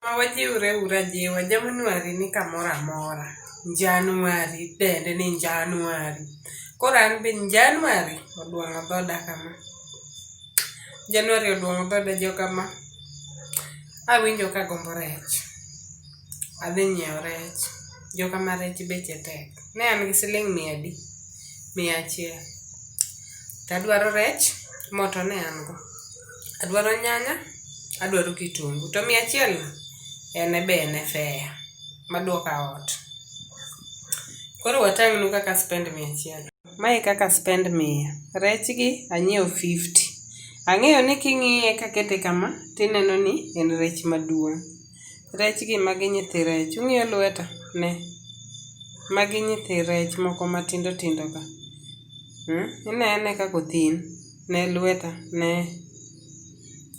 Ma wajiwre uru ajiwa, Januari ni kamoro amora. Januari dende ni Januari. Koro an be Januari oduong'o dhoda kama. Januari oduong'o dhoda joka ma. Awinjo kagombo rech. Adhi nyiewo rech. Joka ma rech beche tek. ne an gi siling' mia adi, mia achiel to adwaro rech mo to ne an go, adwaro nyanya, adwaro kitungu to mia achielno en be en e fare maduoka ot. Koro watang'nu kaka aspend mia achiel. Mae kaka aspend mia, rechgi anyiewo fifty, ang'eyo ni king'iye kakete kama tineno ni en rech maduong'. Rech gi magi nyithi rech. Ung'iyo lweta? Ne. Magi nyithi rech moko matindo tindo ka. Hmm? Ine ane kaka othin. Ne lweta. Ne.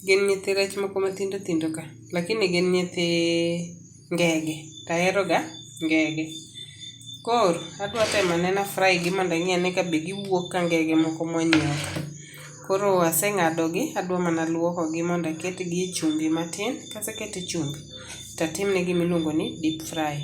Gin nyithi rech moko matindo tindo ka. Lakini gin nyithi ngege. To aheroga ngege. Koro, adwa temo anena fry gi mondo ang'i ane ka be giwuok ka ngege moko mwanyiewo ka. Koro aseng'adogi, adwa mana luokogi mondo aketgi e chumbi matin. Kaseketo e chumbi, to atimne gima iluongo ni deep fry.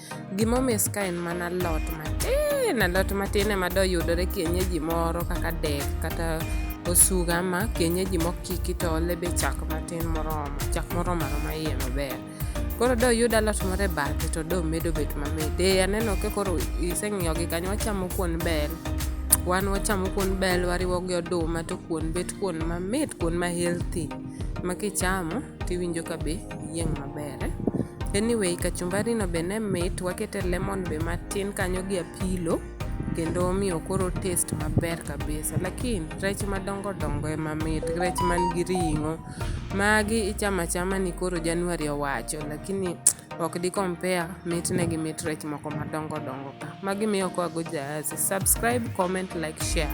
Gima omis ka en mana lot matin, alot matin ema doyudore kienyeji moro kaka dek kata osuga ma kienyeji mokiki to ole be chak matin moromo, chak moromo aroma iye maber. Koro doyud alot moro e bathe to do medo bet mamit. Ee aneno ka koro iseng'iyo gi kanyo, wachamo kuon bel, wan wachamo kuon bel wariwo gi oduma to kuon bet kuon mamit, kuon ma healthy ma kichamo tiwinjo ka be iyieng' maber eh? anyway kachumbari no be ne mit wakete lemon be matin kanyo gi apilo kendo omiyo koro test maber kabisa lakini rech madongo dongo ema mit rech man gi ring'o magi ichamo achama ni koro januari owacho lakini ok di compare mitne gi mit rech moko madongo dongo ka magi miyo kwago jaasi subscribe comment like share